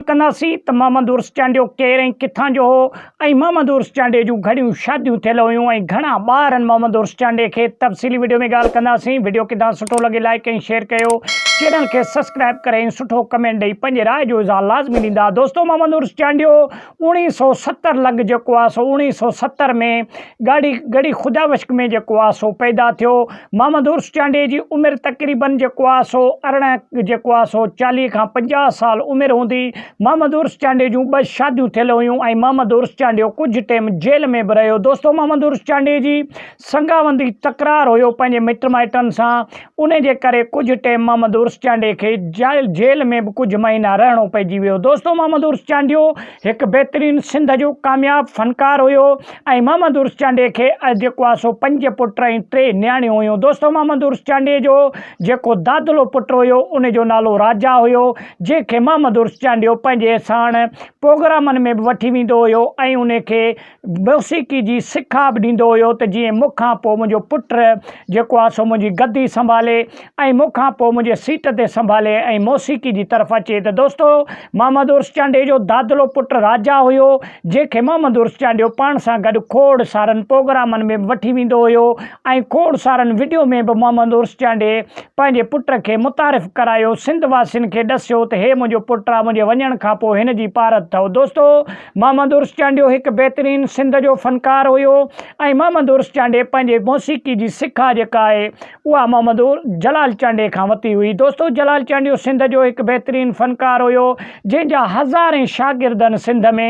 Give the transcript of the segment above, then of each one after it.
ڪنداسين ته محمد عرس چانڊيو ڪير ۽ ڪٿان جو هو ۽ محمد عرس چانڊيي جون گهڻيون شاديون ٿيل هيون ۽ گهڻا ٻار هن محمد عرس چانڊيي کي تفصيلي وڊيو ۾ ڳالهه ڪنداسين وڊيو ڪدا سٺو لڳي لائيڪ ۽ شيئر ڪيو چينل کي سسڪرائب ڪري ۽ سٺو ڪمينٽ ڏئي پنهنجي راء جو اظهار لازمي ڏيندا دوستو محمد عرس چانڊيو اوڻيهه سو ستر لڳ جيڪو آهي سو اوڻيهه سو ستر ۾ ڳاڙهي ڳڙهي خدا وشڪ ۾ جيڪو آهي سو پيدا ٿيو محمد عرس چانڊيي جي عمر تقريبن جيڪو آ سو ارڙهن جيڪو آ سو چاليهه کان پنجاهه سال عمر هوندي. محمد عرس چانڊيي جون ٻه شاديون ٿيل هيون ۽ محمد عرس چانڊيو ڪجهه ٽيم جيل ۾ به رهيو. دوستو محمد عرس چانڊيي جي سنگاوندي تڪرار هيو پنهنجي مٽ مائٽن سان انهي جي ڪري ڪجهه ٽيم محمد عرس چانڊيي کي جيل ۾ به ڪجهه مهينا رهڻو پئجي ويو. دوستو محمد عرس چانڊيو هڪ بهترين سنڌ جو ڪامياب فنڪار هيو. ۽ محمد عرس چانڊيي کي جيڪو آهي سو پنج پٽ ۽ ٽي نياڻيون هيون. دوستو محمد عرس چانڊيي جو جيڪو دادلو پٽ هيو ان جو نالو راجا هيو جنهن کي محمد عرس چانڊيو پنهنجي ساڻ پوگرامن ۾ به وٺي ويندو هيو ۽ ان کي موسيقي جي سکا به ڏيندو هيو ته جيئن مون کان پوء منهنجو پٽ جيڪو آهي سو منهنجي گدي سنڀالي. ۽ مون کان پوء منهنجي سيٽ تي سنڀالي ۽ موسيقي جي طرف اچي ته دوستو محمد عرس چانڊيي جو دادلو پٽ راجا هيو جنهن کي محمد عرس چانڊيو پاڻ سان گڏ کوڙ سارن پروگرامن ۾ به وٺي ويندو هيو ۽ کوڙ سارن وڊيو ۾ به محمد عرس چانڊيي پنهنجي پٽ کي متعارف ڪرايو سنڌ واسين کي ڏسيو ته هي منهنجو پٽ آ منهنجي وڃڻ کان پوء هن جي پارت ٿئو دوستو محمد عرس چانڊيو هڪ بهترين سنڌ جو فنڪار هيو ۽ محمد عرس چانڊيي پنهنجي موسيقي جي سکا جيڪا آهي اها محمدور جلال چانڊيي کان وتي هئي. دوستو جلال چانڊيو سنڌ جو هڪ بهترين فنڪار هيو جنهن جا هزارين شاگردن سنڌ ۾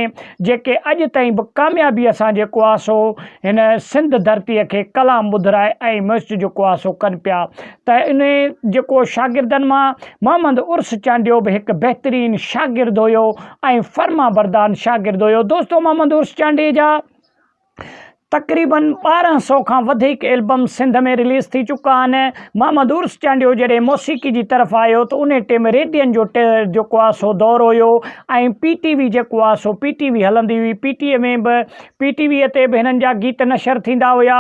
جيڪي اڄ تائين به ڪاميابيء سان جي ڪواسو هن سنڌ ڌرتيء کي ڪلام ٻڌرائي ۽ ميوسٽ جو ڪواسو ڪن پيا ته انهي جيڪو شاگردن مان محمد عرس چانڊيو به هڪ بهترين شاگرد هيو ۽ فرمانبردان شاگرد هيو دوستو محمد عرس چانڊيي جا تقريبن ٻارهن سؤ کان وڌيڪ البم سنڌ ۾ رليز ٿي چڪا آهن. محمد عرس چانڊيو جڏهن موسيقي جي طرف آيو ته انهي ٽيم ريڊين جو جيڪو آهي سو دور هيو ۽ پي ٽي وي جيڪو آهي سو پي ٽي وي هلندي هئي پي ٽي اي ۾ به پي ٽي ويء تي به هنن جا گيت نشر ٿيندا هيا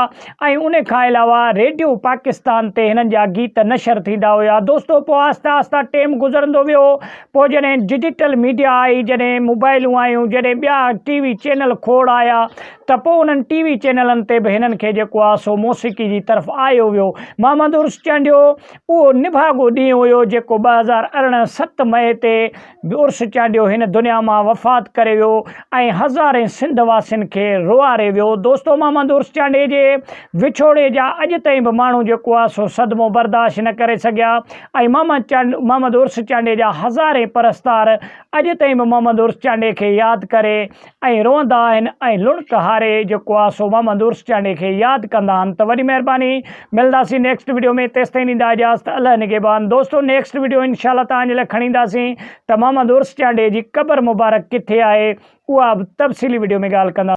۽ انهي کان علاوه ريڊيو پاڪستان تي هنن جا گيت نشر ٿيندا هيا دوستو پوء آهسته آهسته ٽيم گذرندو ويو پوء جڏهن ڊجيٽل ميڊيا آئي، جڏهن موبائلون آيون، جڏهن ٻيا ٽي وي چينل کوڙ آيا ته پوء انهن ٽي وي چينلن تي به هنن کي جيڪو آ سو موسيقي جي طرف آيو ويو. محمد عرس چانڊيو اهو نڀاڳو ڏينهن هيو جيڪو ٻه هزار ارڙهن ست مئي تي عرس چانڊيو هن دنيا مان وفات ڪري ويو ۽ هزارين سنڌ واسين کي روئاري ويو. دوستو محمد عرس چانڊيي جي وڇوڙي جا اڄ تائين به ماڻهو جيڪو آ سو صدمو برداشت نه ڪري سگهيا. ۽ محمد عرس چانڊيي جا هزارين پرستار اڄ تائين به محمد عرس چانڊيي کي ياد ڪري ۽ روئندا آهن ۽ لڻڪ هاري جيڪو آ سو محمد عرس چانڊيي کي ياد ڪندا آهن ته وڏي مهرباني ملنداسين نيڪسٽ وڊيو ۾ تيستائين ڏيندا اجازت الله نگهبان دوستو نيڪسٽ وڊيو انشاء الله توهان جي لاء کڻي اينداسين ته محمد عرس چانڊيي جي قبر مبارڪ ڪٿي آهي اها به تفصيلي وڊيو ۾ ڳالهه ڪنداسين.